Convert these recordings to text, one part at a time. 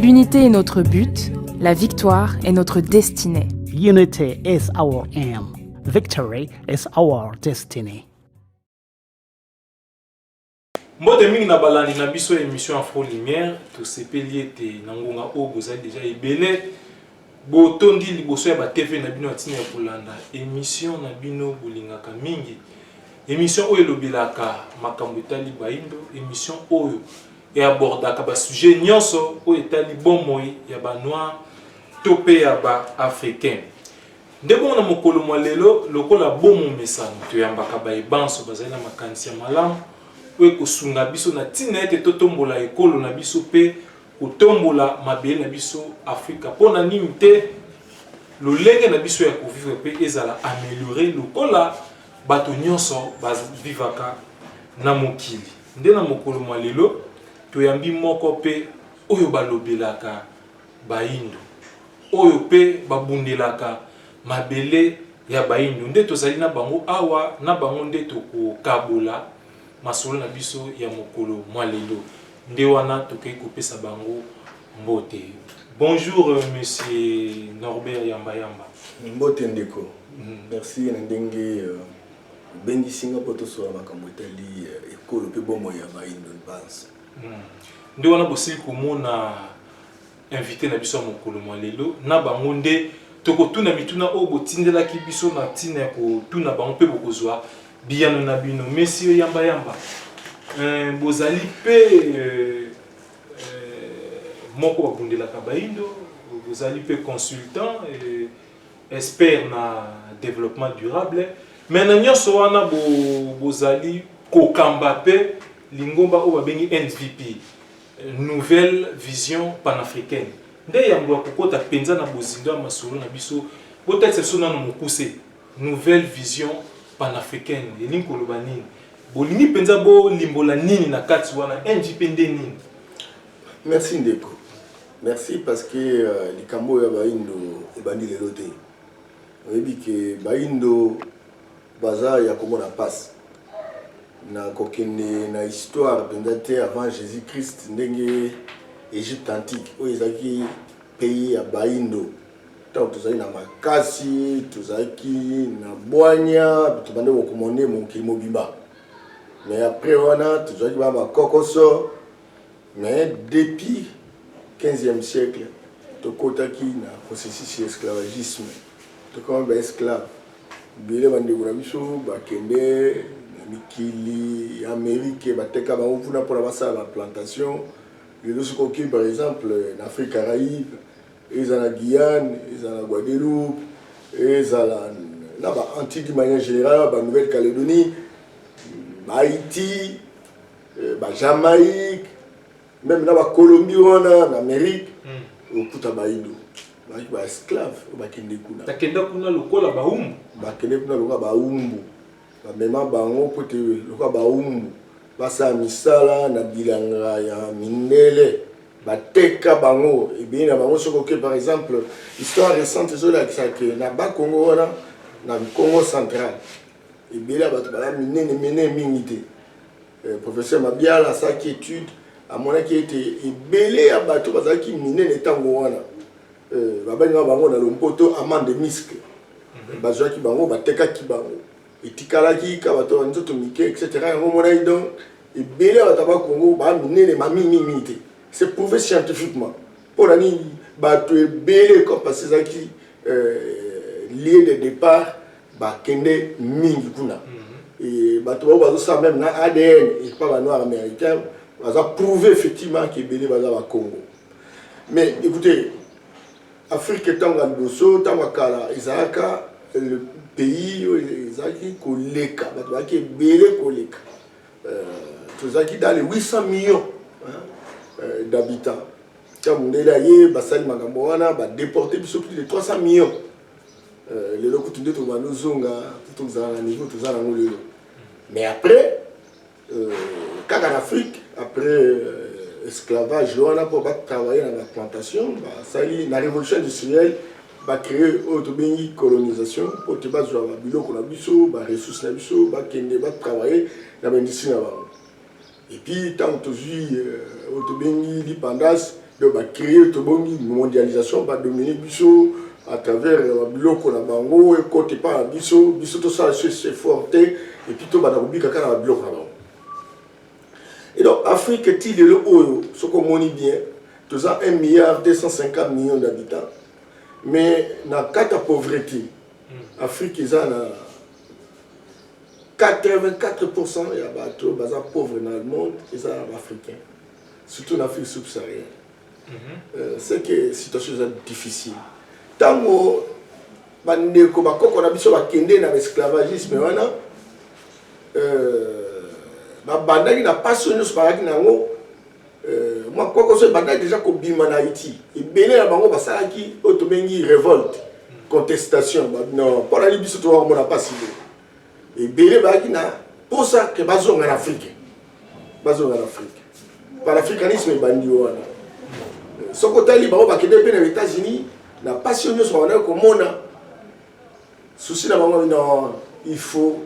L'unité est notre but, la victoire est notre destinée. Unity is our aim. Victory is our destiny. mbote mingi na balandi na biso ya émission afro lumière tosepeli ete na ngonga oyo bozali deja ebele Botondi liboso ya ba TV na bino ya ntina ya kolanda emission na bino bolingaka mingi. Emission oyo elobelaka makambo etali baindo, emission oyo e abordaka ba sujets nyonso oyo etali bomoi ya ba noirs to mpe ya ba africains. Nde bongo na mokolo mwa lelo, lokola bo momesano, toyambaka baye banso bazali na makanisi ya malamu oyo ekosunga biso na ntina ete totombola ekolo na biso mpe Kotombola mabele na biso Afrika mpo na nini te lolenge na biso ya kovivre mpe ezala ameliorer lokola bato nyonso ba vivaka na mokili. Nde na mokolo mwa lelo toyambi moko mpe oyo balobelaka bayindo, oyo mpe babundelaka mabele ya bayindo nde tozali na bango awa, na bango nde tokokabola masolo na biso ya mokolo mwa lelo. Nde wana tokeyi kopesa bango mbote. Bonjour monsieur Norbert Yamba Yamba. Mbote ndeko. Merci na ndenge obengisi nga po tosolola makambo etali ekolo pe bomoi ya bayindo banso. Nde wana bosili komona. Invite na biso ya mokolo mwa lelo na bango nde tokotuna mituna oyo botindelaki biso na ntina ya kotuna bango mpe bokozwa biyano na bino. Messieurs Yamba Yamba, euh, bozali mpe euh, euh, moko babundelaka baindo, bozali mpe consultant euh, expert na développement durable mais na nyonso wana bo, bozali kokamba mpe lingomba oyo babengi NVP Nouvelle vision panafricaine nde yambo ya kokota mpenza na bozindo ya masolo na biso. Botalisa biso nano mokuse nouvelle vision panafricaine elingi koloba nini? Bolingi mpenza bolimbola nini na kati wana? NVP nde nini? Merci ndeko. Merci parce que euh, likambo oyo ya baindo ebandi lelo te. Oyebi ke baindo baza ya komona pasi. Na kokende na histoire penza te avant Jesus Christ ndenge Egypte antique oyo ezalaki pays ya baindo tango tozalaki na makasi tozalaki na bwanya tobandaki ko commander mokili mobimba mais après wana tozalaki ba ba kokoso mais depuis 15e siècle tokotaki na processus ya esclavagisme tokomaki ba esclaves Ebele ya bandeko na biso bakende na mikili ya Amerike, bateka bango kuna mpo na basala ba plantation. Lelo soki okei par exemple na Afrique Caraïbe, ezala Guyane, ezala Guadeloupe, ezala na ba Antilles d'une manière generale, ba Nouvelle Caledonie, ba Haïti, ba Jamaïque, meme na bakolombi wana na amerike hmm. okuta baindo bazalaki ba esclave oyo bakende kuna bakenda kuna lokola baumbu bakende kuna lokola baumbu bamema bango mpo te lokola baumbu basala misala na bilanga ya mindele bateka bango ebele na bango soki oke par exemple histoire récente ezolakisa ke na bakongo wana na congo central ebele ya bato baya minene minene mingi te Eh, professeur Mabiala asalaki étude amonaki ete ebele ya bato bazalaki minene ntango wana eh, babengaka bango na lompoto amande miske mhm. bazwaki bango batekaki bango etikalaki ka bato ya nzoto mike etc yango omonaki donc ebele ya bato ya bakongo baa minene mamimimi te c'est prouvé scientifiquement mpo na nini bato ebele comme parce ezalaki lieu de depart bakende mingi kuna bato bao bazosala meme na adn epa ba noir américain baza prouve effectivement ke ebele baza bakongo mais écoutez afrique ntango ya liboso ntango ya kala ezalaka le pays oyo ezalaki koleka bato bazalaki ebele koleka tozalaki dans les 800 millions euh, d'habitants ntango mundele aye basali makambo wana badeporte biso plus de 300 millions euh, lelo kutu nde tobanda ozonga kutu kozala na niveau toza nango lelo mais après euh, kaka na afrique après esclavage wana mpo batravaille na baplantation basali na révolution industrielle ba cree oyo tobengi colonisation po te bazwa ba biloko na biso ba ressources na biso bakende ba travailler na ba industrie na bango et puis ntango tozwi euh, oyo tobengi lipandasi donc ba cree tobongi mondialisation ba domine biso à travers euh, ba biloko na bango ekota epai na biso biso tosala so effort te et puis tobanda kobika kaka na ba biloko na bango Et donc Afrique ti lelo oyo soki omoni bien toza 1 milliard 250 millions d'habitants mais na kata pauvrete Afrique eza na 84% ya bato baza pauvre na monde eza baafricain surtout na Afrique subsaharienne ce mhm. que situation eza difficile ntango bandeko bakoko na biso bakende na baesclavagisme wana euh, babandaki na mpasi oyo nyonso bazalaki na yango euh, mwa koko so ebandaki deja kobima na haïti ebele na bango basalaki oyo tobengi revolte contestation mpona libiso towakomona mpasi boye Ebele bayaki na posa ke bazonga na Afrique, bazonga na Afrique. Panafricanisme ebandi wana. Soki otali bango bakende mpe na Etats-Unis, na pasi nyonso bawanaki komona souci na bango non il faut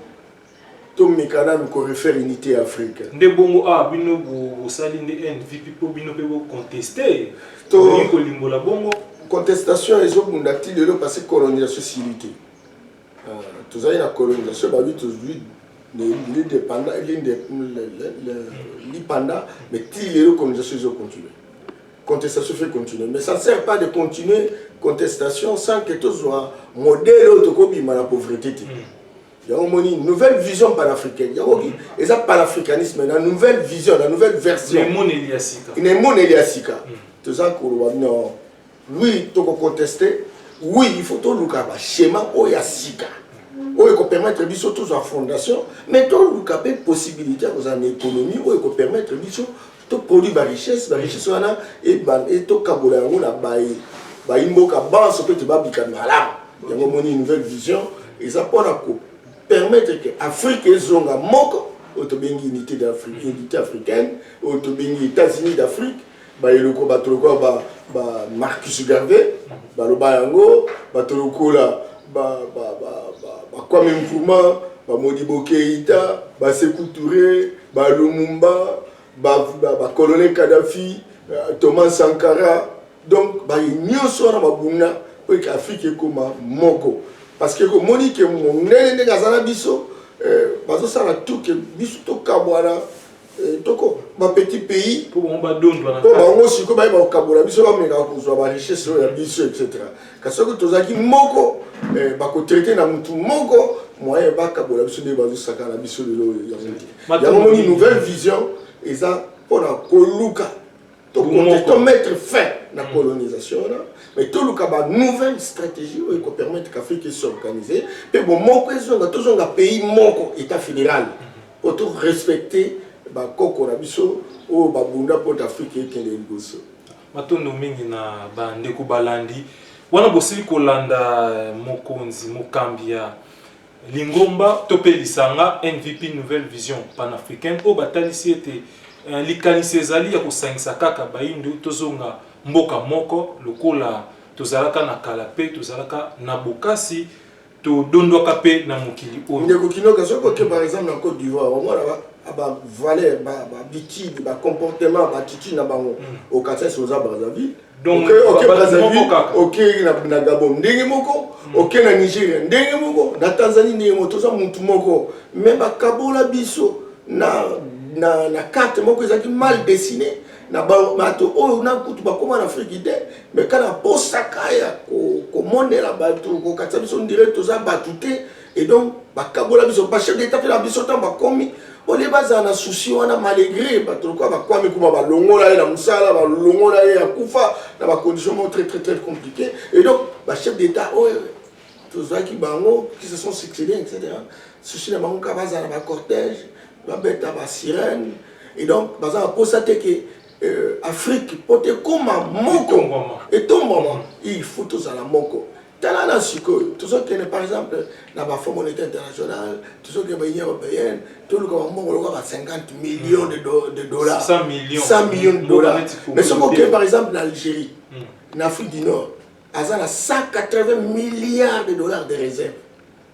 tomeka nanu korefaire unité ya afrique nde bongo awa ah, bino bosali nde nvp mpo bino mpe boconteste tolingi kolimbola bongo contestation ezobunda ti lelo parce colonisation esili te Tozali na colonisation ba lui tozui lipanda mais ti lelo colonisation ezo continue contestation fait continue mais ça sert pas de continuer contestation sans que tozwa modèle oyo tokobima na pauvreté te mm. yango omoni nouvelle vision panafricaine yango mm. eza panafricanisme na nouvelle vision na nouvelle version na emoneli ya sika mm. toza koloba non Oui, toko contester. Oui, il faut toluka ba schéma oyo ya sika. Oyo ko permettre biso tozwa fondation, mais toluka pe possibilité ya kozala na économie oyo ko permettre biso to produire ba richesse, ba richesse wana et ba et to kabola yango na baye bayi mboka banso pe te babika malamu. Yango moni nouvelle vision eza pona ko permettre que Afrique ezonga moko oyo tobengi unité d'Afrique, unité africaine, oyo tobengi États-Unis d'Afrique ba eloko bato lokola ba, ba Marcus Garvey baloba yango bato lokola ba, ba, ba, ba, ba Kwame Nkrumah ba Modibo Keita ba Sekou Toure ba Lumumba ba, ba, ba colonel Kadhafi euh, Thomas Sankara donc baye nyonso wana babunda mpo eke Afrique ekoma moko parce que komoni ke mondele ndenge aza na biso euh, bazosala tout ke biso tokabwana Eh, toko ba petit pays po bango badondwa na po bango siko baye bakokabola biso bameka kozwa ba richesse oyo ya biso etc kasi soki tozalaki moko eh, bakotraite na mutu moko moyen bakabola biso nde bazosaka na biso lelo yango moni nouvelle vision eza mpona koluka tokonte to mettre fin na mm. colonisation wana mais toluka ba nouvelle stratégie oyo ekopermettre qu'afrique esorganise mpe bomoko ezonga tozonga pays moko état fédéral mm-hmm. po to respecte bakoko na biso oyo babunda mpo te afrique ekende liboso matondo mingi na bandeko balandi wana bosili kolanda mokonzi mokambi ya Lingomba to mpe lisanga NVP Nouvelle Vision Panafricaine oyo batalisi ete likanisi ezali ya kosangisa kaka bayindo tozonga mboka moko lokola tozalaka na kala mpe tozalaka na bokasi todondwaka mpe na mokili oyo. Ndeko Kinoka, soki oke par exemple na Cote d'Ivoire omonaka ba valeurs, ba habitudes, ba comportements, ba attitudes na bango okatisa esi oza Brazzaville. okei na gabon ndenge moko hmm. okei na nigeria ndenge moko na tanzanie ndenge moko toza mutu moko me bakabola biso na, na, na karte moko ezalaki mal dessine na bato oyo na kutu bakóma na afriki te me kaka mposaka ya komonela bato kokatisa biso ndire toza bato te Et donc bakabola biso ba chef d'etat na biso ntango bakomi olie bazala na souci wana malgré bato lokola bakwami kuma balongola ye na mosala balongola ye akufa na bacondition moko très très très compliqué et donc bachef d'état oyo oh, eh, tozwaki bango qui se sont succédé etc souci na bango kaka bazala na bacortège babeta basirène et donc baza na mposa te ke euh, afrique mpo te ekoma moko etombwama il faut tozala moko Tala na sikoyo tozokende par exemple na ba Fonds monetaire international, tozokende ba Union européenne, toluka ba mbongo lokola ba 50 millions de, do, de dollars, 100 millions, 100 millions de dollars. Mais soki okende par exemple na Algérie, hmm. na Afrique du Nord, aza na 180 milliards de dollars de réserve.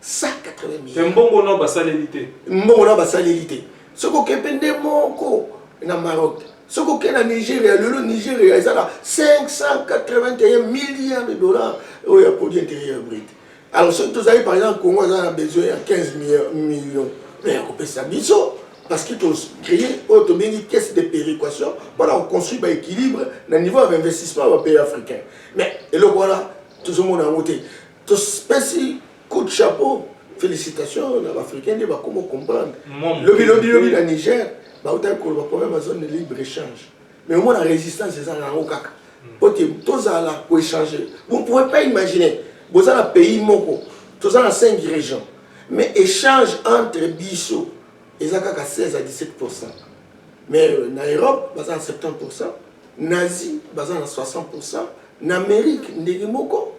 180000 mbongo nao basaleli te mbongo nao basaleli te soki oke mpe nde moko na maroc soki oke na nigeria lelo nigeria eza na 581 milliard de dollars oyo ya produit intérieur brut alors soki tozali par exemple congo aza na besoin ya 15 million me ya kopesa biso parce que tocree oyo tobengi caisse de péréquation mpona koconstruire baéquilibre na niveau ya bainvestissement ya bapays africain mais eloko wana tozomona yango te Topesi coup de chapeau felicitations na ba africains nde bakoma comprendre lobi lobi lobi na Niger bautaki koloba problème ya zone de libre échange mais omona resistance eza nango kaka mpo te tozala ko échanger vous ne pouvez pas imaginer boza na pays moko toza na 5 régions mais échange entre biso eza kaka 16 à 17 pourcent mais na Europe baza na 70 pourcent na Asie baza na 60 pourcent na Amérique ndenge moko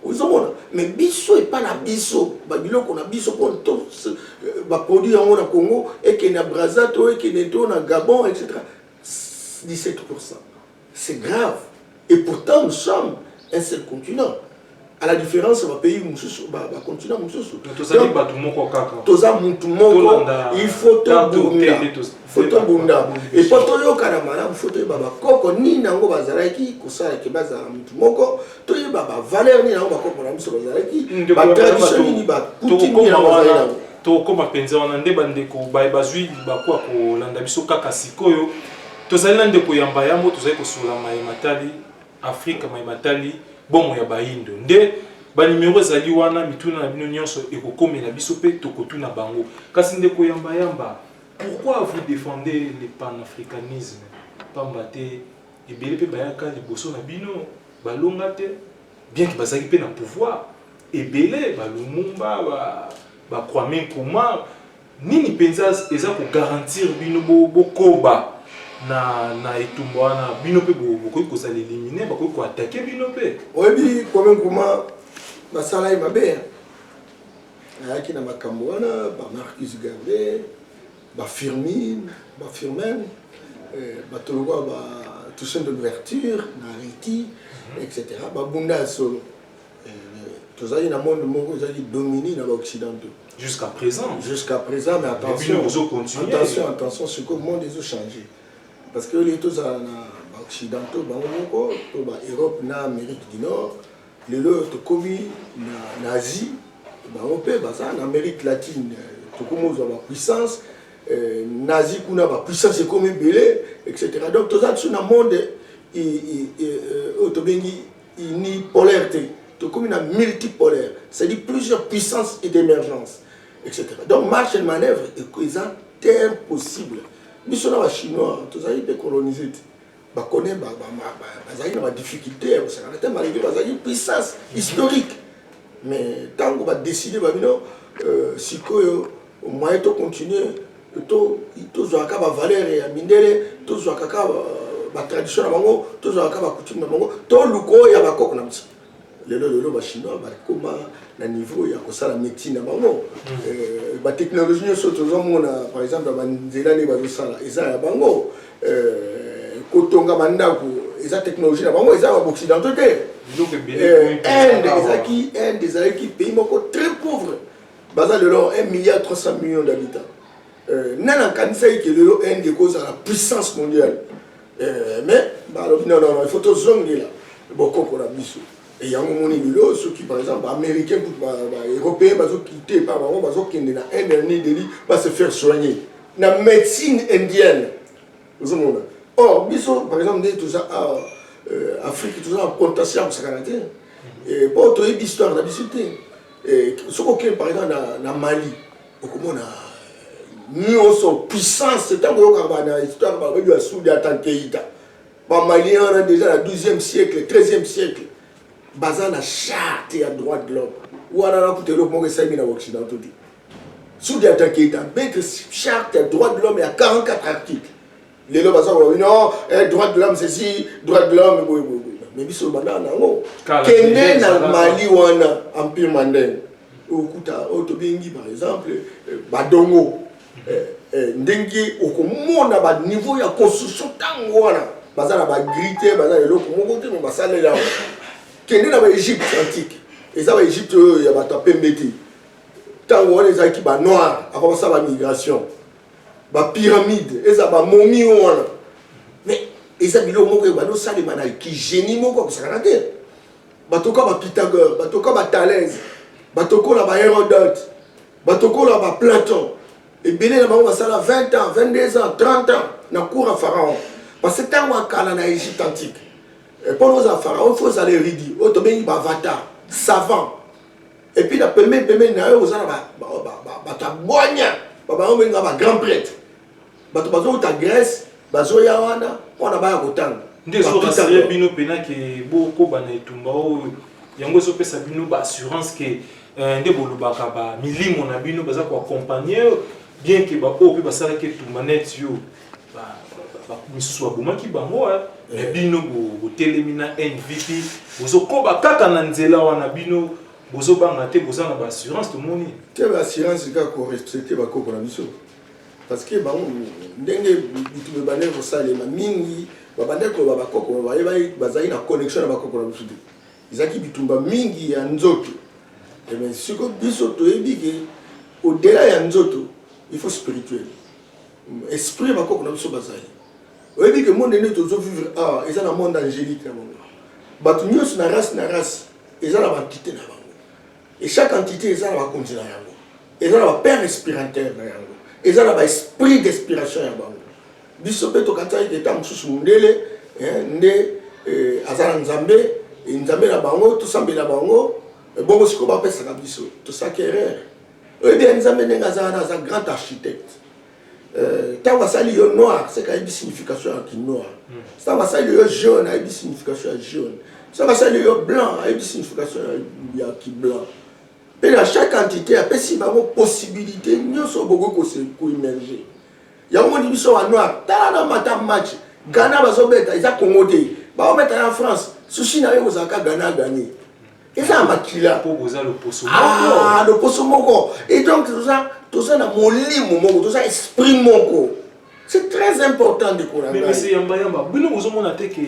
ozomona me biso epa na biso babiloko na biso mpo to euh, baproduit yango na congo ekende na braza to ekende to na gabon etc 17 c'est grave et pourtant nous sommes un seul continent à la différence ya bapays mosusu bacontinent mosusu toza motu moko il faut tobunda faut tobunda epo toyokana malamu faut toyeba bakoko nini yango bazalaki kosala ke bazala motu moko toyeba bavaleur nini yango bakoko na biso bazalaki batradition nini bakutimi nini yango bazali yango tokoma mpenza wana nde bandeko baye bazwi libaku ya kolanda biso kaka sikoyo tozali na ndeko ya mbayambo tozali kosola maye matali afrika maye matali bomo ya bayindo nde banimero ezali wana mituna na bino nyonso ekokomela biso mpe tokotuna bango kasi ndeko yambayamba yamba, Pourquoi vous defendez le panafricanisme? Pamba te ebele mpe bayaka liboso na bino balonga te, bien que bazalaki mpe na pouvoir, ebele ba Lumumba, ba, ba Kwame Nkrumah, nini mpenza eza ko garantir bino bo, bokoba na, na etumba wana? Bino mpe bokoki kozala elimine, bakoki ko attaquer bino mpe. Oyebi Kwame Nkrumah basala ye mabe, hein? ayaki na makambo wana ba Marcus Garvey ba Firmin ba Firmin eh, bato lokola ba Toussaint de l'ouverture na Haïti mhm. etc babunda ya solo eh, tozali na monde moko ezalaki domini na baoccidentaux jusqu'à présent jusqu'à présent mais attention attention attention sikoyo monde ezo changer parce que oyo tozala na baoccidentaux bango moko to baeurope na amérique du nord Lelo oyo tokomi na Asie, bango mpe baza na Amerique latine, tokomi kozwa ba puissance na Asie kuna ba puissance ekomi ebele etc. Donc toza lisusu na monde oyo tobengi unipolaire te, tokomi na multipolaire c'est à dire plusieurs puissance et d'emergence etc. Donc marche et manœuvre eza te impossible biso na ba chinois tozali mpe colonise te. bakone bazalaki na badifficulté ya kosakana te malgré bazalaki puissance historique mais ntango badeside babino euh, sikoyo moyen tocontinue tozwaka bavaleur ya mindele tozwaka kaka euh, batradition na bango tozwaka kaka bacoutume na bango toluka oyo ya bakoko na biso lelo lelo ba chinois bakoma na niveau ya kosala médecine na bango hmm. euh, ba technologie nyonso tozomona par exemple ya banzela nde bazosala eza ya bango euh, kotonga bandako eza technologie na bango eza ya baoccidentaux te euh, inde ezalaki inde ezalaki pays moko très pauvre baza lelo 1 milliard 300 millions d'habitants Euh, nani akanisaki ke lelo inde ekozala puissance mondiale euh, mais balobi non non il faut tozongela bokoko na biso e yango moni lelo soki par exemple baaméricain kutu baeuropéen bazokite epa bango bazokende na inde ya new delhi ba se faire soigner na médecine indienne ozomona or biso par exemple nde toza awa euh, afrique toza na contention ya kosakana te mpo toyebi histoire na biso te soki okende par exemple na mali okomona nyonso puissance ntango oyokaka bana histoire babebi ya sudi ata nkeita bamalien wana deja na 12e siècle 13e siècle baza na charte ya droit de l'homme wana nakuta eloko moko esalemi na occidentaux te sudi ata nkeita abete charte ya droit de l'homme ya 44 article lelo baza koloba bino eh, droit de l'homme ceci droit de l'homme boye boye boye mais biso lobanda na yango kende na mali wana empire mandenge okuta oyo tobengi par exemple eh, badongo eh, eh, ndenge okomona baniveau ya construction ntango wana baza na bagri te baza na eloko moko te me basalela yango kende na baegypte antique eza baegypte oyo ya bato ya pembe te ntango wana ezalaki banoir avant basala bamigration ba pyramide eza ba momi oyo wana mais eza biloko moko ebandi osalema na kigenie moko akosakana te batoka ba pythagore batoka ba thalese batokola ba herodote batokola ba platon ebele na bango basala 20 ans 22 ans 30 ans na cour ya pharaon parce que ntango ya kala na egypte antique mpo eh, na ozala pharaon fo ozala eridi oyo tobengi bavatar savant Et puis na pembeni pembeni na yo oza na ba ba ba ba ba ta boigna ba ba obengi nga ba grand prêtre bato bazouta Grèce bazoya wana mpona baya kotanga nde ezorasire bino mpena ke bokoba na etumba oyo yango ezopesa bino baassurance ke euh, nde bolobaka bamilimo na bino baza koakompagne bien ke baoyo mpe basalaki etumba neti yo misusu babomaki bango eh. me bino botelemi na nvp bozokoba kaka na nzela wana bino bozobanga te boza na baassurance tomoni te baassurance kaka korestricte bakoko na biso parce que bango ndenge bitu bebandaki kosalema mingi babandaki koloba bakoko bayebaki bazalaki na connexion na bakoko na biso te ezalaki bitumba mingi ya nzoto eh siko biso toyebi ke odela ya nzoto il faut spirituel Esprit ya bakoko na biso bazali. Oyebi ke monde nde tozo vivre awa eza na monde angelique na bango. Bato nyonso na race na race eza na ba entite na bango. Et chaque entité eza na bakonzi na yango. Eza na ba père inspirateur na yango. Eza na ba esprit d'inspiration ya bango. Biso pe tokanisaki ke tango mosusu mundele nde aza na Nzambe, Nzambe na bango, tosambela bango, bongo sikoyo bapesaka biso. Tosalaki erreur. oyebi ya nzambe ndenge aza wana aza grand architecte ntango euh, asali yo noir seke ayebi signification ya kinoir ntango hmm. asali yo jaune ayebi signification ya jaune ntango asali yo blanc ayebi signification ya kiblanc mpe na chaque entité apesi bango possibilité nyonso bokoki kose koemerge yango moni biso wa noir tala na mata match ghana bazobeta eza congo te baometa na france sushi na yo kozalaka ghana ganie eza ya makila mpo boza loposo ah, moko ah, loposo moko et donc toza toza na molimo moko toza esprit moko c'est très important ndeko na ngai mais monsieur yamba yamba bino bozomona te que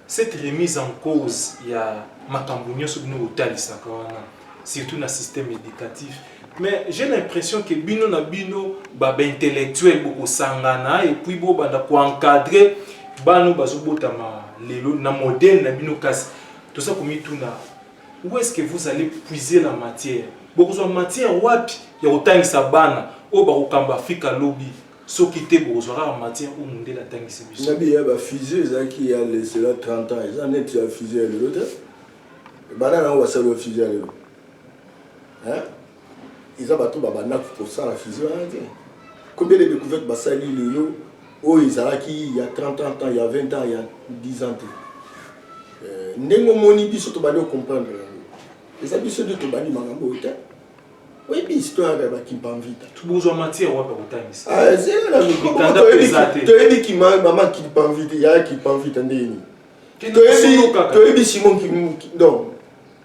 cette remise en cause ya makambo nyonso bino botalisaka wana surtout na système éducatif mais j'ai l'impression que bino na bino babaintellectuel bokosangana et puis bobanda koencadre bano bazobotama lelo na modele na bino kasi Toza komituna où est-ce que vous allez puiser la matière? Bokozwa matière wapi ya kotangisa bana oyo bakokamba Afrika lobi? Soki te bokozwa kaka matière oyo mundele atangisi biso. Nabi ya ba fusee ezalaki il ya de cela 30 ans, eza neti ya fusee ya lelo te. Bana na yango basali ba fusee ya lelo? Hein? Eza bato ba bandaki kosala fusion wana te. Combien de decouvertes basali lelo oyo ezalaki il ya 30 ans, il ya 20 ans, il ya 10 ans te. Euh, ndenge omoni biso tobandi ocomprendre yango. Eza biso nde tobandi makambo oyo te. oyebi histoire ya bakimpamvita bozwa matière wapi akotangisa ah, toyebi kimama kimpamvita ya kimpamvita ndenge nini toyebi simon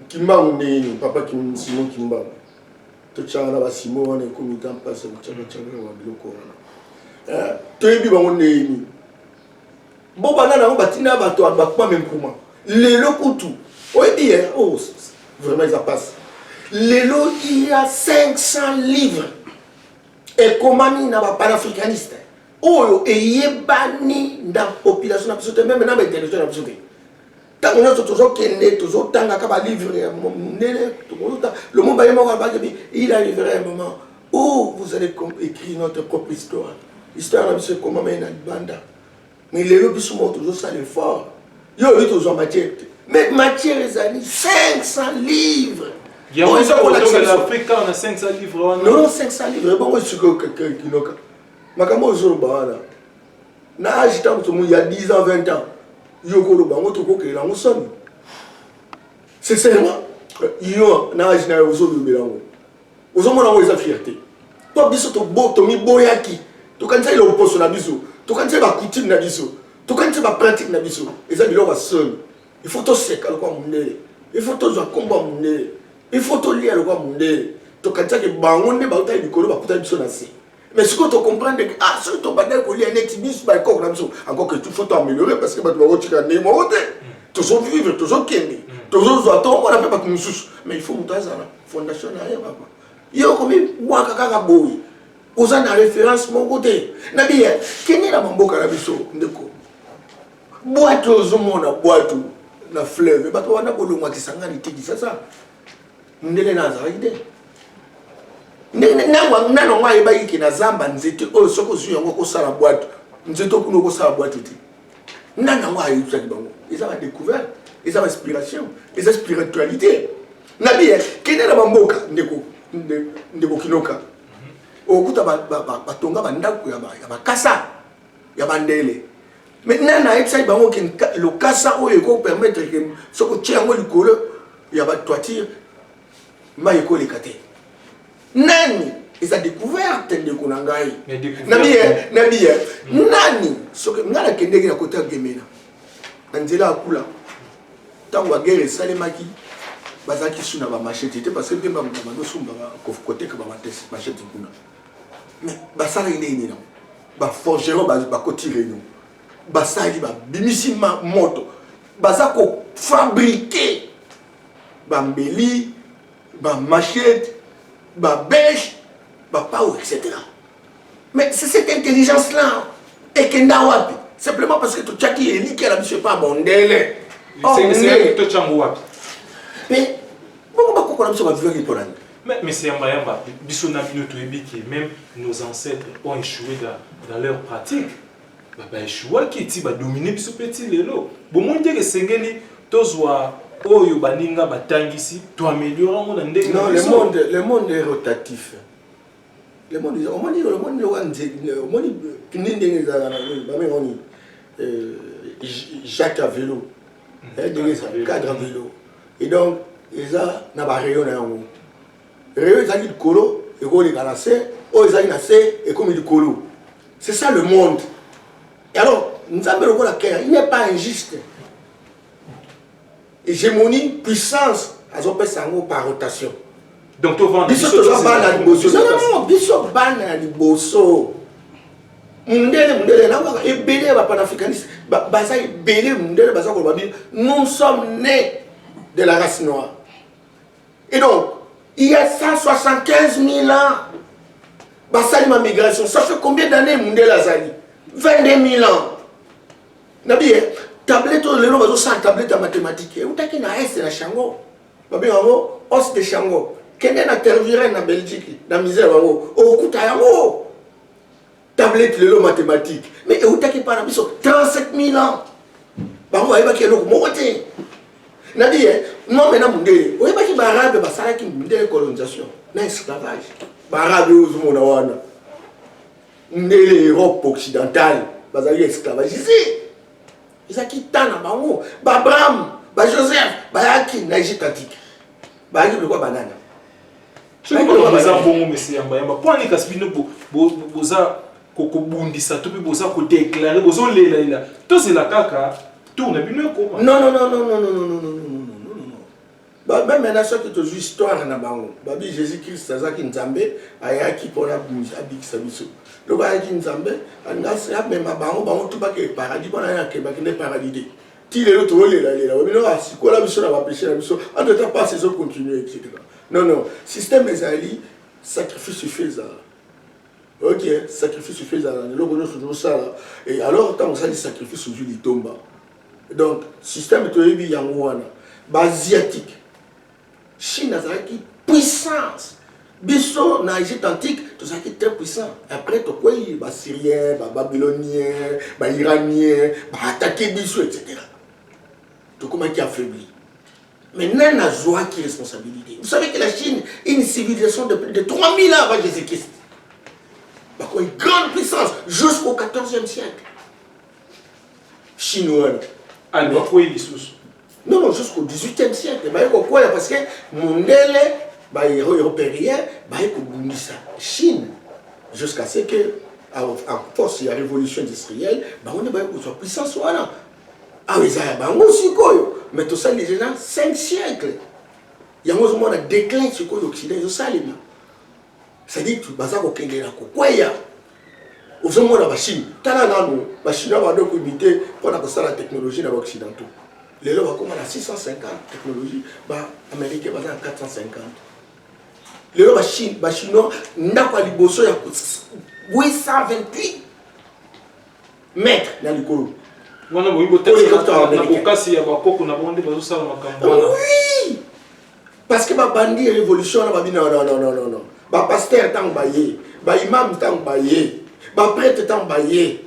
kimbangu ndenge nini papa simon kimbangu totyaka na basimon wana ekomi ta mpasi ya kotyakatyakaka wa biloko wana eh, toyebi bango ndenge nini bo banda nango batina bato bakuma menkuma lelo kutu oyebi ye eh, oh, vraiment eza mpasi lelo il y a 500 livres ekomami na bapanafricaniste oyo eyebani na population na biso te meme na baintellectuel na biso te ntango nyonso tozokende tozotangaka balivre ya monene lomomba ye moko alobaki bi il arrivera un moment où vous allez écrire notre propre histoire histoire na biso ekomama ye na libanda mais lelo biso moko tozosala effort yo oyebi tozwa matière te mais matière ezali 500 livres oyo eza kolakisa non 500 livres wana non 500 livres ebongo esikoyo kinoka makambo oyo ozoloba wana na age ntango tomoni ya 10 ans 20 ans yo okoloba yango tokokelela yango soni sincèrement yo na age na yo ozolobela yango ozomona yango eza fierté mpo biso tomiboyaki tokanisaki loposo na biso tokanisaki bacoutume na biso tokanisi bapratique na biso eza biloko ya soni il faut toseka lokwa mondele il faut tozwa nkombo ya mondele il faut tolia lokwa mondele tokanisaki bango nde bautaki likolo bakutaki biso na se mais sikoyo tocomprendre ke ah soki tobandaki kolia neti biso baekoko na biso encore que tout faut toameliore parce que bato bakotika ndenge moko te tozovivre tozokende tozozwa tomona mpe bato mosusu mais il faut moto azala fondation na ye papa ye okomi bwaka kaka boye oza na référence moko te na biye kende na bamboka na biso ndeko bwatu ozomona bwatu na fleuve bato wana kolongwa kisangani te kisasa mundele na azalaki te ndenge nano yango ayebaki ke na zamba nzete oyo soki ozwi yango okosala bwatu nzete okuna okosala bwatu te nano yango ayebisaki bango eza ba découverte eza ba inspiration eza spiritualité na biye kende na bamboka ndeko ndeko kinoka okuta batonga bandako ya bakasa ya bandele mais nani ayebisaki bango ke lokasa oyo ekopermettre ke soki otye yango likolo ya batoitire mai ekoleka te nani eza découverte ndeko na ngai na biye na biye hmm. nani soki ngai nakendeki na kota gemena na nzela ya kula ntango bagere esalemaki bazalaki su na bamashete te parce que mpe bamama dosumba koteka bamashete kuna mais basalaki ndenge nini nango baforgeron bakoti reunion basali babimisi moto baza kofabrike bambeli bamachete babeshe bapau etc mais c'est cette intelligence là ekenda wapi simplement parce que totyaki elikya na biso epa bondele tocango wapi mpe bongo bakokola biso baviaki mpo nani Mais Monsieur Yamba Yamba, biso na bino toyebi que même nos ancêtres ont échoué dans, dans leur pratique. Ba ba échouaki ti ba dominer biso pe ti lelo. Bomoni te que esengeli tozwa oyo baninga batangisi to améliorer yango na ndenge na biso. Non, le monde, le monde est rotatif. Le monde, omoni omoni loka nze, omoni kini ndenge ezalaka na nini, bameka nini, euh, Jacques Avelo. eh, ndenge eza cadre ya velo et donc eza na barayon na yango rayon ezalaki likolo ekoleka na se oyo ezalaki na se ekomi likolo c'est ça le monde et alors nzambe lokola kea il n'est pas injuste hégémonie puissance azopesa yango par rotation donc tovanda biso toza bana ya liboso nonono biso bana ya liboso mundele mundele nakoka ebele ya bapanafricaniste baza ebele mundele baza koloba bino nous sommes nés de la race noire et donc il y a 175 000 ans basali ma migration ça fait combien d'années mundele azali 22 000 ans nabiye tablette oyo lelo bazosala tablette ya mathématique eutaki na este na chango Babenga yango os de shango. Kende na Tervuren na Belgique, na musee na bango, okokuta yango. Tablette lelo mathématique. Mais eutaki pa na biso 37000 ans. Bango bayebaki eloko moko te. Nadi ye, nombe na mundele. Oyebaki ba arabe basalaki mundele colonisation na esclavage. Ba arabe ozomona wana. Mundele Europe occidentale bazali esclavagiste. ezalaki temps na bango ba abraham ba joseph bayaki na egypte antique bayaki biloko banana eza bongo mesi yambayamba mpo ani kasi bino boza kobundisa to mpe boza kodeklare bozolelalela tozela kaka tour na bino ekoma Ba meme na soki tozui histoire na bango babi Jesus Christ azaki nzambe ayaki pona abikisa biso lobi ayaki nzambe alingi asi amema bango bango tout bakee paradis bona ye ake bakende paradis te ti lelo tozolela lela ba bino asikola biso na ba peche na biso entre temps pasi ezo continue etc non non système ezali sacrifice efe ezala ok sacrifice efe ezala na eloko nyonso tozosala et alors ntango osali sacrifice ozwi litomba Donc système toyebi yango wana ba asiatique Chine azalaki puissance biso na Egypte antique tozalaki très puissant après tokwei ba Syrien ba Babylonien ba Iranien ba attaquer biso etc tokomaki affaibli mais nani nazwaki responsabilité vous savez que la Chine une civilisation de plus de 3000 ans avant Jésus-Christ bakomi grande puissance jusqu'au 14e siècle chine wana alo akwei lisusu non non jusqu'au 18e siècle baye kokwela parce que mondele baeuropérien baye kobundisa chine jusqu'à ce que en force ya révolution industrielle bango nde baye kozwa puissance wana awa eza ya bango sikoyo mais tosali déjà 5 siècle yango ozomona déclin sikoyo occident ezosalema c'est-à-dire baza kokendela kokweya ozomona ba chine tala nanu ba chinois bado koimite mpo na kosala technologie na ba occidentaux lelo bakoma na 650 technologie ba américain baza na 450 lelo ba chinois ndako ya liboso ya 828 mètre na likolo wana boyi botekaka na bokasi ya bakoko na bango nde bazosala makambo wana parce que ba bandi ya révolution na babi non non non non non ba pasteur tango baye ba imam tango baye ba prêtre tango baye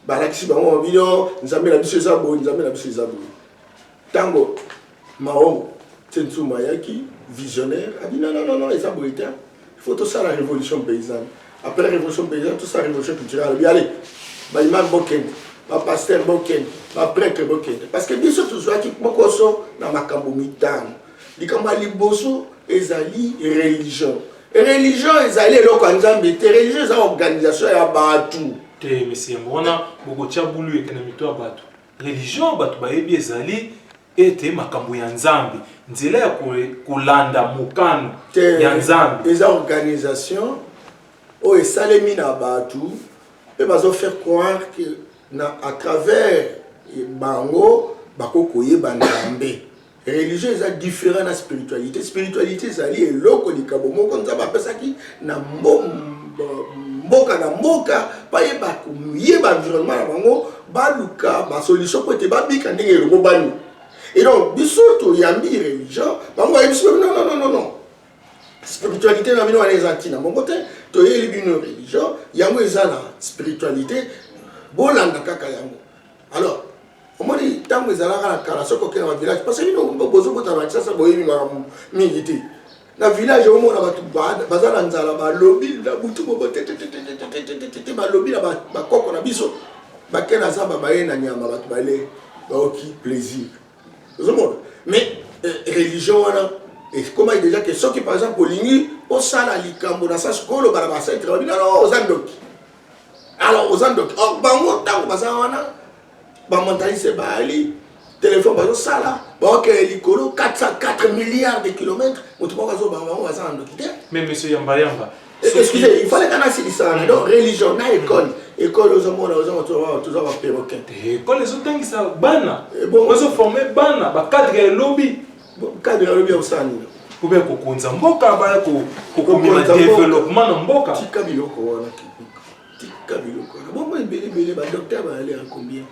balakisi bango bino nzambe na biso eza boye nzambe na biso eza boye tango maongo tsensuma ayaki visionnaire abi non non non eza boye te il faut tosala révolution paysanne après révolution paysanne tosala révolution culturelle alobi ale ba imam bokende ba pasteur bokende ba prêtre bokende parce que biso tozwaki mokoso na makambo mitano Likambo ya liboso ezali religion. Religion ezali eloko ya Nzambe te, religion eza organisation ya bato. Te mesi yango wana bokotya bulu ete na mito ya bato. Religion bato bayebi ezali ete makambo ya Nzambe, nzela ya kolanda mokano ya Nzambe. Eza organisation oyo esalemi na bato mpe bazo faire croire que na à travers bango bakoki koyeba Nzambe. Religion eza different na spiritualite. Spiritualite ezali eloko likabo moko Nzambe apesaki na mboka na mboka baye bakoyeba environnement na bango baluka basolution mpo ete babika ndenge elongo bani et donc biso toyambi religion bango bayebi biso non non non non non spiritualité na bino wana eza ntina moko te toyeli bino religion yango eza na spiritualité bolanda kaka yango Alors, omoni ntango ezalaka na kala soki okenda na village parce bino bozobota na kisasa boyebi makambo mingi te na village omona bato baza na nzala balobi na butu bobo tetetetetetete balobi na bakoko na biso bake na zamba baye na nyama bato bale baoki plaisir ozomona mais euh, religion wana ekomaki deja ke soki par exemple olingi osala likambo na sasi koloba na bacentre babinano oza ndoki alors oza ndoki or oh, bango ntango baza wana bamontanise baali telefone bazosala baokele likolo 404 milliards de kilomètre moto moko azobanga bango baza na ndoki te mais monsieur yambayamba eh, excuse il fallait kana asilisana donc religion na école ekole ozomona ozoza baperroquet ekole ezotangisa bana eh, ozoforme bana bacadre ya elobi Kabila alobi ya kosala nini? Obe ya kokonza mboka baya kokomema developement na mboka. Tika biloko wana kibika. Tika biloko wana. Bongo ebele ebele ba docteur ba aller en combien?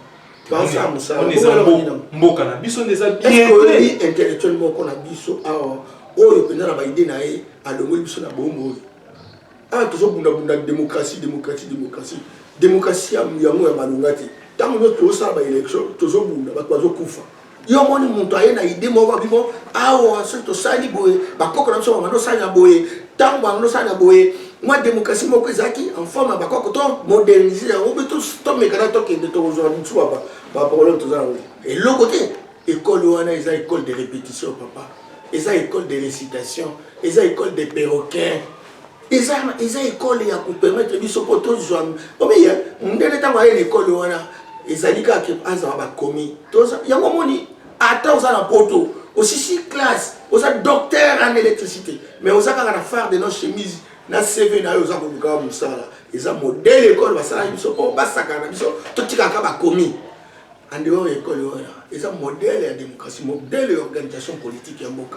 Banza musala. On eza mboka na biso ndeza bien. Est-ce que intellectuel moko na biso awa oyo penda na ba idée na ye alongoli biso na bombo oyo? awa tozobundabunda démocratie démocratie démocratie démocratie yango ya malonga te ntango nyonso tozosala baélection tozobunda bato bazokufa yo omoni moto aye na ide moko bimo awa soki tosali boye bakoko na biso banganda osali na boye ntango banganda osali na boye mwa démocratie moko ezalaki en forme ya bakoko to modernise yango mpe tomekana tokende tokozwa misu baproblème toza yango eloko te ekole wana eza ekole de répétition papa eza ekole de récitation eza ekole de perroquin eza eza ekole ya kopermettre biso mpo tozwa omiye mondele ntango aye na ekole wana ezali kaka ke azala bakomi yango omoni ata oza na poto osisi classe oza docteur en électricité mais oza kaka na phare de no chemise na cv na yo oza koluka mosala eza modele ekole basalaki biso mpo basakana na biso totikaka bakomi en dehors ya ekole wana eza modele ya démocratie modele ya organisation politique ya mboka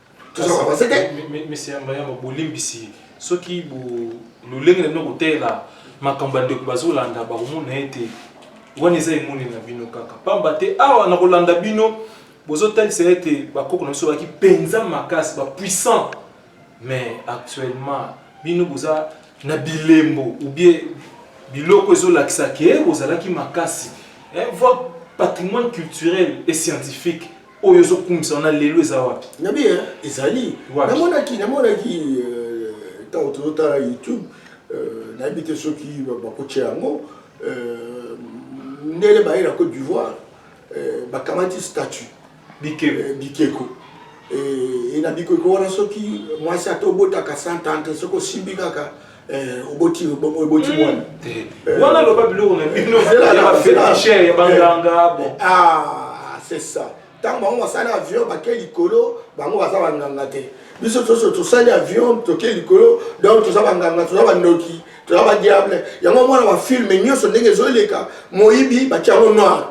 toza koavanse te mesi yamba yamba bolimbisi soki lolenge na bino koteyela makambo ya ndeko bazolanda bakomona ete wana eza emoni na bino kaka pamba te awa na kolanda bino bozotalisa ete bakoko na biso bazalaki mpenza makasi bapuissant mais actuellement bino boza na bilembo oubien biloko ezolakisa ke bozalaki makasi eh, voir patrimoine culturel et scientifique oyo ozo kumisa wana lelo eza wapi na bien ezali namonaki namonaki euh, ntango tozotala youtube euh, nayebi te soki bakotya yango euh, ndele baye na côte d'ivoire bakamati statut bikeko e na bikeko wana soki mwasi ata obotaka 130 soki osimbi kaka Eh, oboti bongo eboti hmm. mwana eh, eh. wana loba biloko na bino ya bafeticher ya banganga bon ah c'est ça ntango bango basali avion bake likolo bango baza banganga te biso toso tosali avion toke likolo donc toza banganga toza bandoki toza badiable yango mwana bafilme nyonso ndenge ezoleka moyibi batyango noir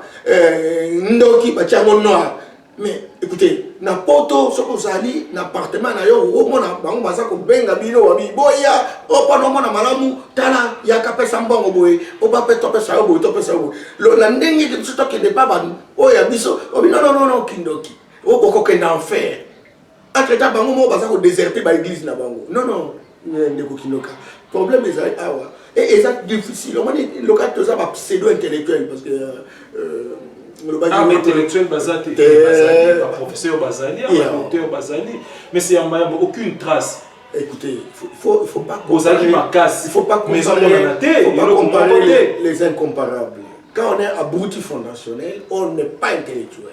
ndoki batyango noir mais écoutez na poto soki ozali na appartement na yo omona bango baza kobenga bino wabi boya opana omona malamu tala yaka pesa mbongo boye oba mpe topesa yo boye topesa yo boye lona ndenge ete biso tokende mpa baoyo ya biso obinononono kindoki okokokenda enfer entre temps bango moko baza ko deserter ba église na bango non non eh, ndeko kinoka problème ezali awa et eza difficile omoni loka toza ba pseudo intellectuel parce que euh, euh ah, intellectuel baza te eh, baprofesseur bazali baauteur bazali mais c'est yamba yamba aucune trace écoutez faut, faut pas ozalaki makasi faut pas comparer, faut pas comparer les, les incomparables quand on est abruti fondationnel on n'est pas intellectuel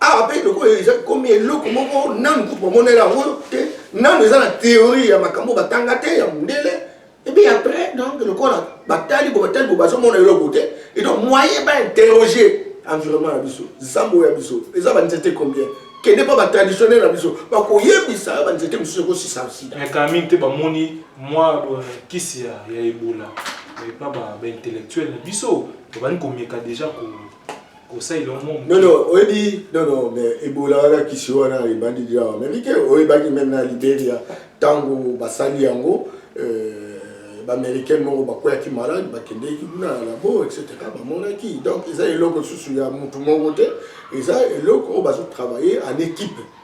awa mpe lokola eza komi eloko moko nanu kutu bamonela yango te nanu eza na théorie ya makambo batanga te ya mondele ebi après donc lokola batali bo batali bo bazomona eloko te et donc moyen ba interroger environnement na biso zambo ya biso eza banzete combien kende mpo batraditionnel na biso bakoyebisa yo banzete mosusu ekosisa sida kamini te bamoni mwa euh, kisi ya ebola epa baintellectuel na biso babandi komeka deja ko Conseil le monde. Non non, on dit non non mais Ebola la kisi wana ebandi déjà en Amérique, on ebandi même na Liberia tango basali yango euh baaméricaine moko bakweyaki malade bakendeki kuna na labo etc bamonaki donc eza eloko lisusu ya motu moko te eza eloko oyo bazotravaille en équipe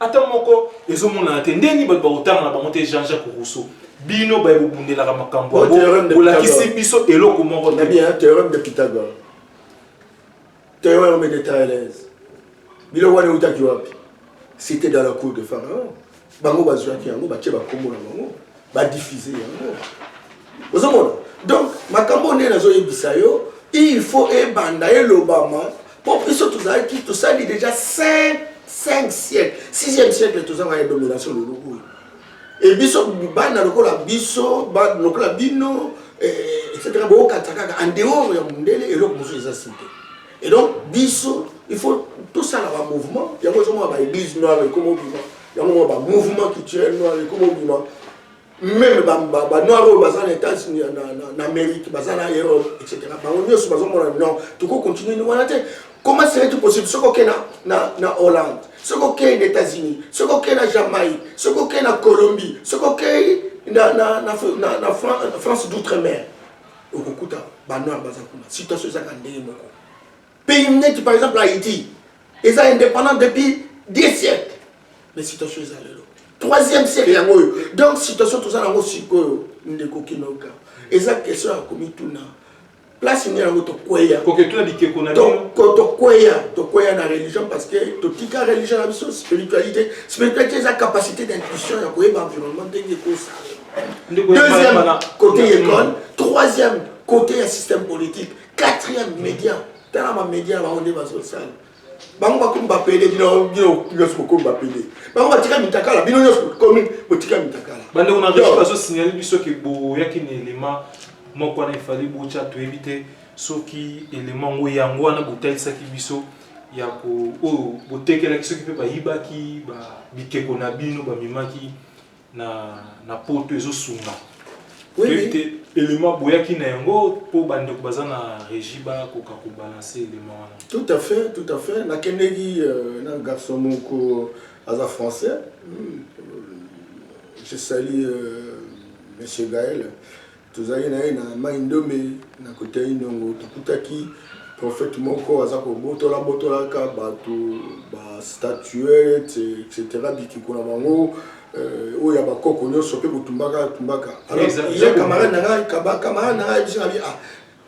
Ata moko ezo monana te nde nini bato bakotanga na bango te Jean Jacques Rousseau bino baye bobundelaka makambo Bo theorème yango de bolakisi Pythagore. biso eloko moko Na te bien, hein, théorème de Pythagore. Théorème de Thalès. Biloko wana eutaki wapi? Cité dans la cour de Pharaon. Bango bazuaki yango, batie ba kombo na bango. ba diffuser yango ozomona donc makambo oyo nde nazoyebisa yo il faut ebanda elobama mpo biso tozalaki tosali déjà 5 5 siècle 6e siècle tozanga ya domination lelo oyo e biso bana lokola biso lokola bino eh, etc bookatisa kaka en dehors ya mondele eloko mosusu eza site et donc biso il faut tosala bamouvement yango ezomona baeglise noire ekoma obima yango ba mouvement culturel noir ekomobima meme banoir oyo baza na états na amérique baza na europe etc bango nyonso bazomona non toko continue wana te comment serait tout possible soki okei na, na hollande soki okei na états-unis soki okei na jamaïque soki okei na colombie soki okei na, na, na, na, na france d'outre mer okokuta banoir baza kuna situation ezaka ndenge moko Pays neti par exemple Haïti eza indépendant depuis des siècles mais situation eza lelo troisième siècle yango oyo donc situation toza nango sikoyo ndeko kinoka eza question ya komituna place nini yango tokweya tokweya tokweya na religion parce que totika religion na biso spiritualité spiritualité eza capacité d'intuition ya koyeba environnement ndenge ekosala deuxième côté école troisième côté ya système politique quatrième média tala ba média bango nde bazosala bango bakomi bapede bino nyonso bokomi bapede bango batika mitakala bino nyonso bokomi botika mitakala bandeko na regie bazosignale biso ke boyaki na elema moko wana efali botya toyebi te soki elema yango yango wana botalisaki biso ya oyo botekelaki soki mpe bayibaki bikeko na bino bamemaki na na poto ezo sunga Oui, toyebi mais- te element boyaki na yango mpo bandeko baza na régie bakoka kobalanse element wana Tout à fait, tout à fait. Nakendeki euh, na garçon moko aza français. Hmm, euh, Je salue euh, Monsieur Gaël. Tozalaki na ye na Maï Ndombe na Koteyi Ndongo, tokutaki prophète moko aza kobotola botolaka batu ba statuette etc. Bikeko na bango euh, oyo ya bakoko nyonso pe kotumbaka tumbaka. Alors ya camarade na ngai kaba camarade na ngai biso na bi ah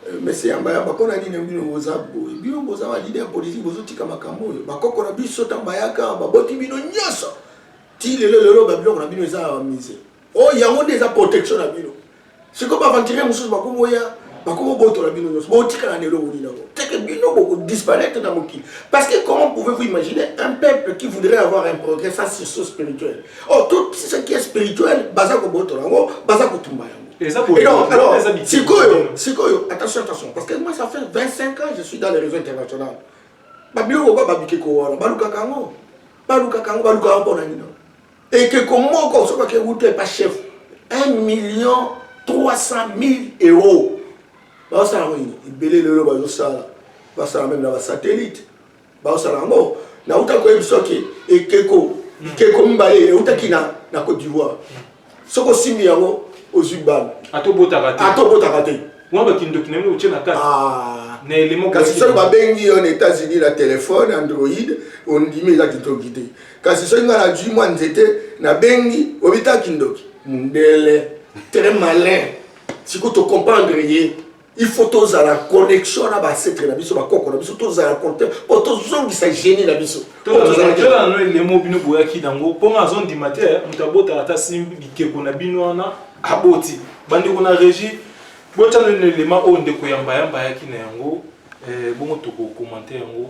euh, Monsieur Yamba Yamba, mpo na nini bino boza boye? Bino boza ba leader politique, bozotika makambo oyo. Bakoko na biso ntango bayaka baboti bino nyonso ti lelo lelo ba biloko na bino eza ya ba musee. Oh yango nde eza protection na bino. Siko ba aventurier mususu bakomo ya bakomo botola bino nyonso. Botikala na eloko nini yango? C'est que bino boko disparaître na mokili. Parce que comment pouvez-vous imaginer un peuple qui voudrait avoir un progrès sans sursaut spirituel? Oh tout ce qui est spirituel baza ko botola yango, baza ko tumba yango. Et donc, alors, sikoyo, sikoyo, attention, attention, parce que moi ça fait 25 ans je suis dans les réseaux internationaux. Babilo ko babike ko wana, balukaka yango. Balukaka yango, balukaka yango pona nini? Ekeko moko soki ake wuta epa chef 1 million 300 mille euros baosala yango nini ebele lelo bazosala basala meme na basatellite baosala yango nauta koyebisa ke ekeko bikeko mibale eutaki na na cote d'ivoire soki osimbi yango ozwi bana atobotaka te mwa bakindoki na yango otye na kati ah. na elemo kasi soki babengi yo na états-unis na telefone android ondimi eza kindoki te kasi soki nga nazwi mwa nzete nabengi obita kindoki mundele très malin siko tocomprendre ye il faut tozala connexion na basetre na biso bakoko na biso tozala conte po tozongisa génie na biso tozalakano elemo bino boyaki nango mpo nga azondima te moto abotaka ata simbi bikeko na bino wana aboti bandeko na régie botyano elema oyo ndeko yambayamba ayaki na yango eh, bongo tokokomante yango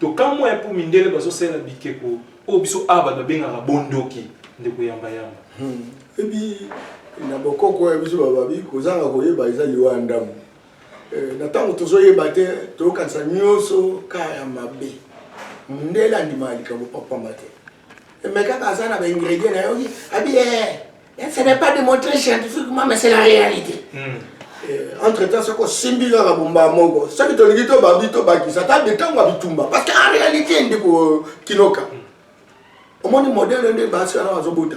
Tokamua hein po mindele bazo salela bikeko oyo biso awa batu babengaka bo ndoki ndeko yamba yamba. Hum ebi na bokoko ya biso bababi kozanga koyeba eza liwa ya ndambu eh, na tango tozo yeba te toyokanisa nioso ka ya mabe mundele andimaka likambo pamba te Mais kaka aza na ba ingrédients na yoki abi eh ce n'est pas démontré scientifiquement mais c'est la réalité. Mm. Eh, entre temps soki osimbi kaka bomba moko soki tolingi tobabi tobakisa ata bitango ya bitumba parce que en réalité ndeko kinoka omoni modele nde basi wana bazobota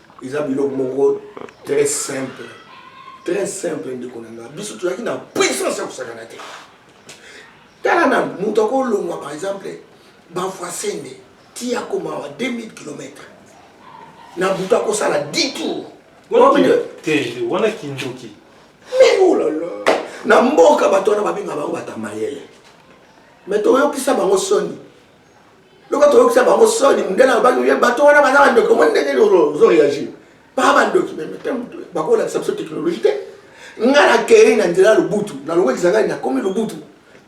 eza biloko moko très simple très simple ndeko na nga biso tozalaki na puissance ya kosakana te tala na moto akolongwa par exemple bavoisende ti akomawa 2000 km na butu akosala 10 tour wana kindoki mais olala oh na mboka bato wana babengaka bango batamayele mais toyokisa bango soni loka toyokisa bango soni mundele alobaki ye bato wana baza bandoki omoni ndenge ozo réagir baa bandoki bakolakisa biso technologie te nga nakei na nzela ya lubutu nalongo ekisangani nakomi lubutu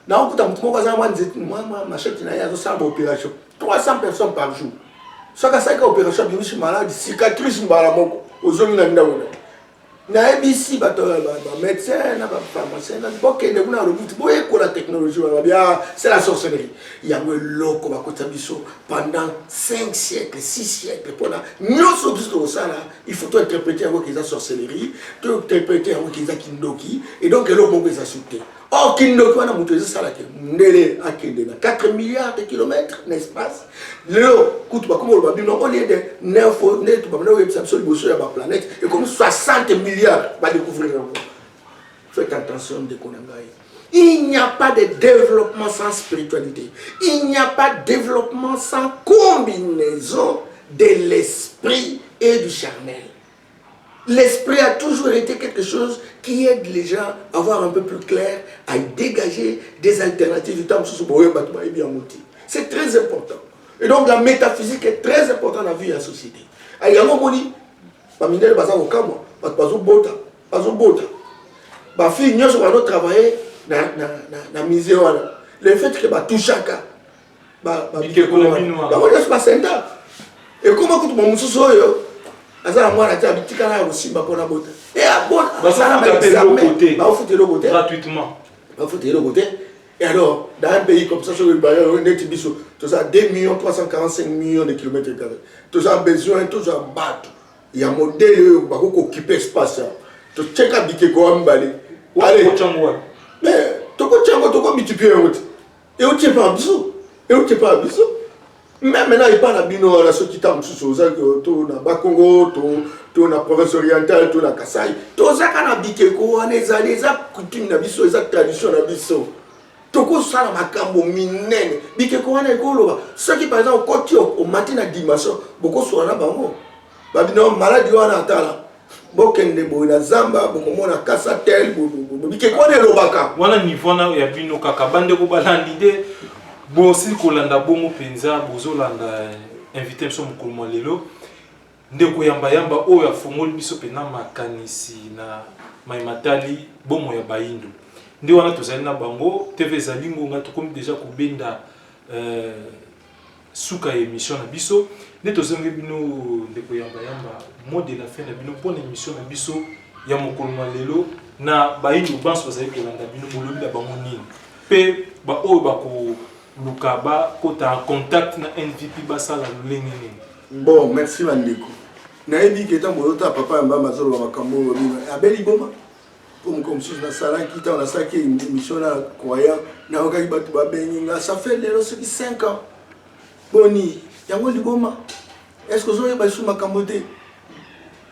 naokuta motu moko aza mwa nzete mwa mashete na ye azosala baopération 300 personnes par jour soki asalaki opération abimisi malade cicatrice mbala moko ozongi na ndako na Nayebisi bato ya ba medecin na ba pharmacien na bokende kuna na lobutu boyekola technologie wana babia ah, c'est la sorcellerie yango eloko bakotisa biso pendant 5 siècle 6 siècle mpona nyonso biso tokosala il faut tointerprete yango eza sorcellerie tointerprete yango eza kindoki et donc eloko moko eza su te Or, kindoki wana moto ezosala ke mundele akende na 4 milliards de kilomètres na espace lelo kutu bakoma oloba bino au lieu de 9 nde tobamana koyebisa biso liboso ya baplanète ekomi 60 milliards badécouvrir yango faites attention ndeko na ngai il n'y a pas de développement sans spiritualité il n'y a pas de développement sans combinaison de l'esprit et du charnel L'esprit a toujours ete quelque chose qui aide les gens à voir un peu plus clair, à degager des alternatives ntango mosusu boye bato bayebi yango te. C'est très important. Et donc la métaphysique est très importante na vie ya société. Yango omoni bamindele baza kokamwa bato bazobota bazobota bafille nyonso bazotravaille na, na, na, na musée wana le fait que batouchaka bikeko na bino bango nyonso basenta ekoma kutu bamosusu oyo aza na mwana te abitikala ya kosimba mpona bota e abonabafuta eloko te bafuta eloko te Et alors, dans un pays comme ça, sur le Bayern, on est biso, tous à 2 millions 345 millions de kilomètres carrés. Tous à besoin, tous à battre. Il y a un modèle euh, bah, qui occupe l'espace. Hein. Tous check à biquet quoi, Allez. Mais, tu peux check, tu peux multiplier. euti epai na biso euti epai na biso meme na epai na bino wana soki ntango mosusu oza to na bakongo to to na province orientale to na kasai tozaka na bikeko wana ezali eza coutume na biso eza tradition na biso tokosala makambo minene bikeko wana ekoloba soki par exemple okoti omati na dimension bokosola na bango ba bino maladi wana atala bokende boye na zamba bokomona kasa tel bikeko wana elobaka wana niveau wana ya bino kaka bandeko balandi nde bosili kolanda bongo mpenza bozolanda eh, invité biso mokolo mwa lelo nde koyambayamba oyo afongoli biso mpenza makanisi na mai matali bomo ya bayindo nde wana tozali na bango tv ezali ngonga tokomi deja kobenda eh, suka ya emission na biso nde tozongi bino ndeko yamba yamba mot de la fin na bino mpo na emission na biso ya mokolo na lelo na bayindo banso bazali kolanda bino bolobi na bango nini mpe baoyo bakoluka bakota en contact na nvp basala lolenge nini bon merci bandeko nayebi ke ntango oyota papa yamba yamba azoloba makambo oyo abeli boma po mokolo mosusu nasalaki ntango nasalaki émission na croyant nayokaki bato babengi nga ça fait lelo soki 5 ans boni yango liboma est ce que ozoyeba lisusu makambo te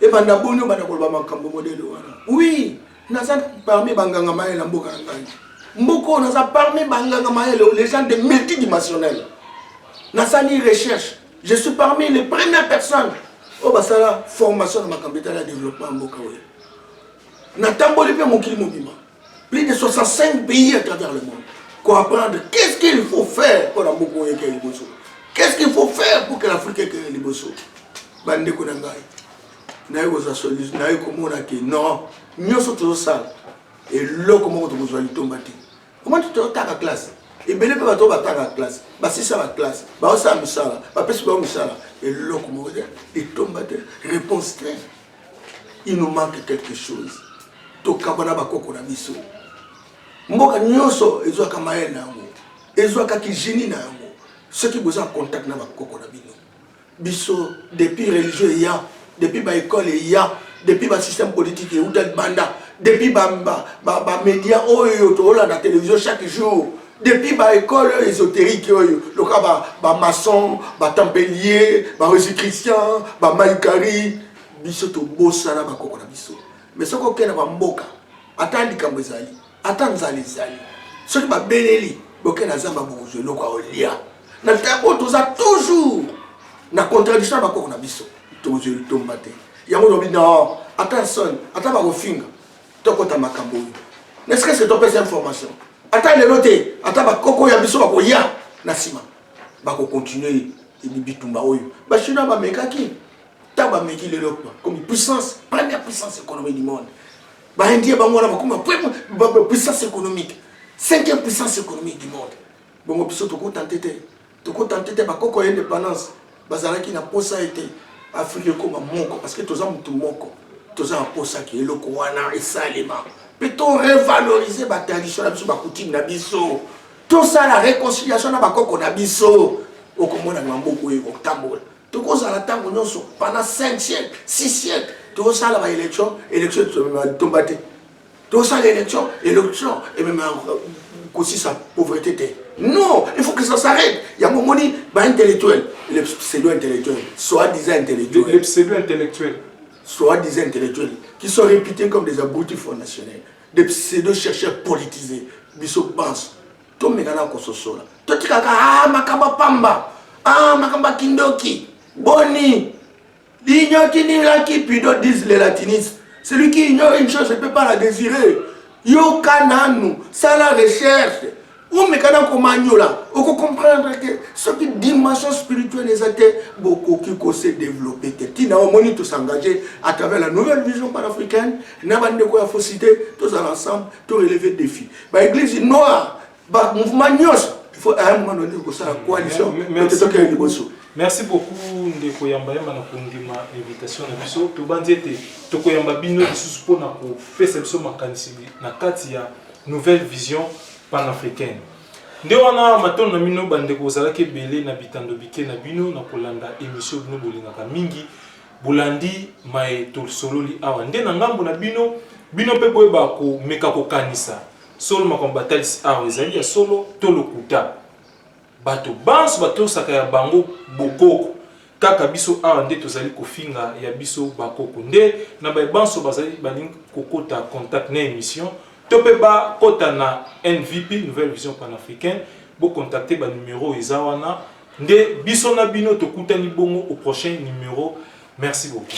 ebanda boni obanda koloba makambo modele wana oui naza parmi banganga mayele na mboka na ngai mboka oyo naza parmi banganga mayele les gens de multidimensionnel nasali recherche je suis parmi les premières personnes oyo basala formation na makambo etali ya développement ya mboka oyo natamboli mpe mokili mobima plus de 65 pays à travers le monde comprendre qu'est-ce qu'il faut faire mpo na mboka oyo ekei liboso qu'est-ce qu'il faut faire pour que l'afrique ekei liboso bandeko na ngai naye kozwa solution naye komona ke non nyonso tozosala eloko moko tokozwa litomba te omoni totaka classe ebele mpe bato batanga classe basisa baklasse baosala misala bapesi bango misala eloko moko te litomba te réponse te Il nous manque quelque chose. Tokaba na bakoko na biso. Mboka nyonso ezwaka mayele na yango, ezwaka kijini na yango. Soki boza contact na bakoko na bino, biso depuis religieux eya, depuis ba école eya, depuis ba système politique euta libanda, depuis ba ba, ba, ba media oyo toolanda télévision chaque jour, depuis ba école oyo ésoterique oyo loka ba, ba maçon ba tempelier ba resi christian ba maikari biso tobosana bakoko na biso mais soki okei na bamboka ata likambo ezali ata nzala ezali soki babeleli bokei na zamba bokozwa eloko aolia na ntango oyo toza toujours na contradiction ya bakoko na biso tokozwa litomba te yango lobi no ata nsoni ata bakofinga tokota makambo oyo ne serait ce que topesa information ata lelo te ata bakoko ya biso bakoya na nsima bakocontinue bitumba oyo bachinois bamekaki ntango bameki lelo bakomi puissance première puissance économique du monde baindien bango wana bakoma puissance économique cinquième puissance économique du monde bongo biso tokotante te Toko tenter te ba koko ya independance bazalaki na posa ete Afrique ekoma moko parce que toza mutu moko toza na posa ke eloko wana esalema pe to revaloriser ba tradition na biso ba coutume na biso tosala reconciliation na ba koko na biso okomona mamboku oyo ekotambola tokozala ntango nyonso pendant 5 siècle 6 siècle tozosala ba élection élection tomba te tosala election election emema kosisa pauvrete te non il faut que ça s'arrête yango omoni baintellectuel le pseudo intellectuel soit disant intellectuel le pseudo intellectuel soit disant intellectuel qui sont réputés comme des abrutis fondationnaires des pseudo chercheurs politisés biso banso tomekana kososola totikaka ah, makambo pamba ah, makambo ya kindoki boni L'union qui n'est là qui pido disent les latinistes. Celui qui ignore une chose ne peut pas la désirer. Yoka nanu, ça la recherche. omeka na komanyola okocomprendre ke soki dimension spirituelle eza te bokoki kose développe te ntina omoni tosengage à travers la nouvelle vision panafricaine na bandeko ya fosite tozala ensemble toreleve défi baeglise noire ba mouvement nyonso faut à un moment donné kosala coalition ete tokende liboso merci beaucoup ndeko yamba yamba na kondima invitation na biso tobanzi ete tokoyamba bino lisusu mpo na kopesa biso makanisi na kati ya nouvelle vision panafricaine nde wana matondo na bino bandeko ozalaki ebele na bitando bike na bino na kolanda émission bino bolingaka mingi bolandi maye tosololi awa nde na ngambo na bino bino mpe boyeba komeka kokanisa Solo makambo batalisi awa ezali ya solo to lokuta? Bato banso batosaka ya bango bokoko, kaka biso awa nde tozali kofinga ya biso bakoko nde na baye banso bazali balingi kokota contact na emission to pe ba kota na NVP, Nouvelle Vision Panafricaine, bo contacter ba numero eza wana nde biso na bino tokutani bongo au prochain numero merci beaucoup.